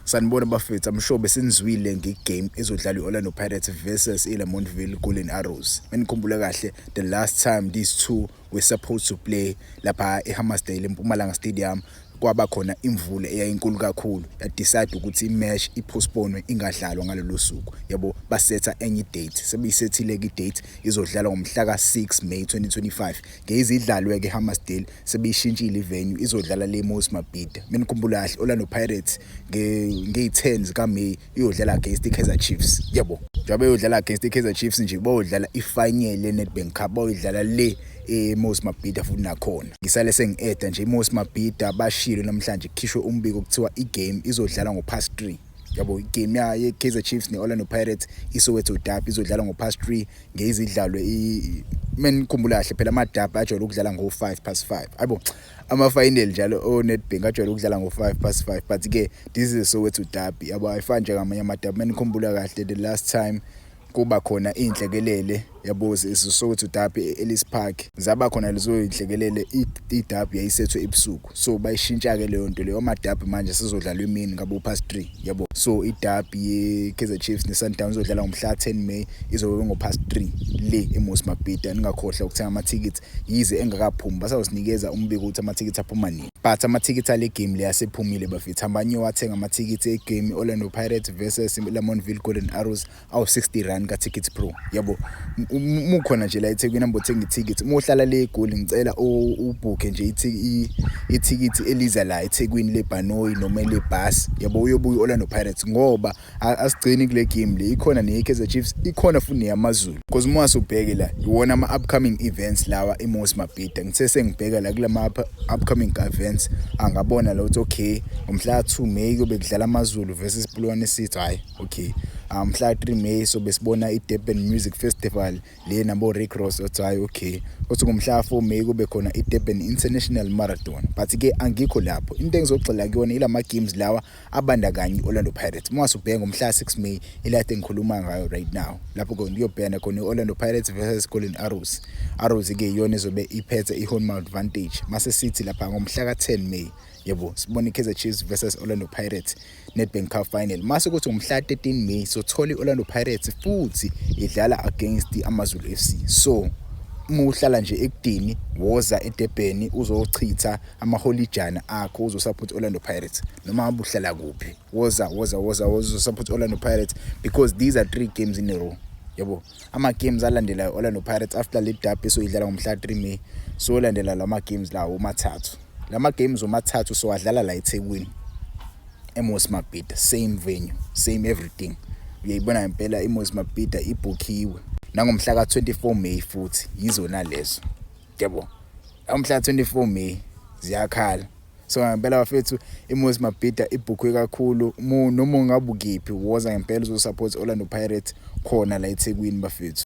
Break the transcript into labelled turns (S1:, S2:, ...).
S1: Sanibona bafethu, I'm sure besinizwile ngegame ezodlalwa i-Orlando Pirates versus i-Lamontville Golden Arrows. Menikhumbula kahle, the last time these two were supposed to play lapha eHammarsdale eMpumalanga Stadium kwaba khona imvula eyayinkulu kakhulu yadecide ukuthi imatch ipostponwe ingadlalwa ngalolu suku yabo basetha enye idate sebeyisethile-ke idate izodlalwa ngomhla ka-6 May 2025 ngeyizidlalwe-ke Hammarsdale sebeyishintshile ivenue izodlala le Moses Mabhida mina ngikhumbula kahle Orlando Pirates ngeyi-10 zikaMay iyodlala against i-Kaizer Chiefs yabo njengoba eyodlala against i-Kaizer Chiefs nje bayodlala i-final le-Nedbank Cup bayodlala le eMoses Mabhida futhi nakhona ngisale sengi-eda nje iMoses Mabhida bashilo namhlanje kukhishwe umbiko kuthiwa i-game izodlala ngo-past 3 yabo igame ya ye-kaizer chiefs ne-orlando pirates isoweto dab izodlala ngo-past three ngeyizidlalwe menikhumbula kahle phela amadab ajwayele ukudlala ngo-five past five ayibo ama-final njalo onetbank ajwayele ukudlala ngo-five past five but-ke this is a soweto dab yabo ayifani njengamanye amadab menikhumbula kahle the last time kuba khona iy'nhlekelele yabo zisokotha udabi e-ellis park zaba khona lezo y'nhlekelele idabi yayisethwe ebusuku so bayishintsha-ke leyo nto leyo amadabi manje sizodlalwa emini ngabo past three yabo so idabi ye-kaizer chiefs ne-sundowns izodlala ngomhla 10 may izobe ngo-past three le emosi mabhida ningakhohlwa ukuthenga amathikithi yize engakaphumi basazosinikeza umbiko ukuthi amathikithi aphuma nini But amathikithi ale game le asephumile bafethu hambani niyowathenga amathikithi egame i-Orlando Pirates versus Lamontville Golden Arrows awu-60 rand ka-Tickets Pro yabo mukhona nje la eThekwini hambe othenga ithikithi uma uhlala le eGoli ngicela ubhukhe nje ithikithi eliza la eThekwini lebhanoyi noma elebhasi yabo uyobuya i-Orlando Pirates ngoba asigcini kule game le ikhona neye-kaizer chiefs ikhona futhi neyamazulu because uma wasubheke la iwona ama-upcoming events lawa imosi mabhida ngithe sengibheka la kula ma-upcoming events angabona la ukuthi okay ngomhla ka-two may kuyobe kudlala amazulu versus bulwane city hhayi okay ah, mhla ka-three may sobe sibona i-durban music festival le nabo-rick ross othi hhayi okay othi ngomhla ka-four may kube khona i-durban international marathon but-ke angikho lapho into engizogxila kuyona ila ma-games lawa abandakanye i-orlando pirates uma wasubheka ngomhla 6 may ilate engikhuluma ngayo right now lapho ke ngiyobhekana khona i-orlando pirates versus golden arrows arrows ke iyona ezobe iphethe i-home advantage mase sithi lapha ngomhla ka-10 may yebo sibona i-kaizer chiefs versus orlando pirates nedbank cup final mase kuthi ngomhla 13 may sothola i-orlando pirates futhi idlala against amazulu f c so uma uhlala nje ekudini woza edebheni uzochitha amaholijana akho uzosupport Orlando Pirates noma abuhlala kuphi woza woza woza uzosupport Orlando Pirates because these are three games in a row yabo ama games alandelayo Orlando Pirates after le derby soyidlala ngomhla 3 May so landela lama games lawo mathathu lama games omathathu so adlala la eThekwini eMos Mabhida same venue same everything uyayibona ngempela iMos Mabhida ibhukhiwe nangomhla ka 24 May futhi yizona lezo Yebo. Amhla 24 May ziyakhala. So ngempela bafethu iMoses Mabhida ibhukhwe kakhulu noma ungabukiphi woza ngempela uzosupport Orlando Pirates khona la eThekwini bafethu.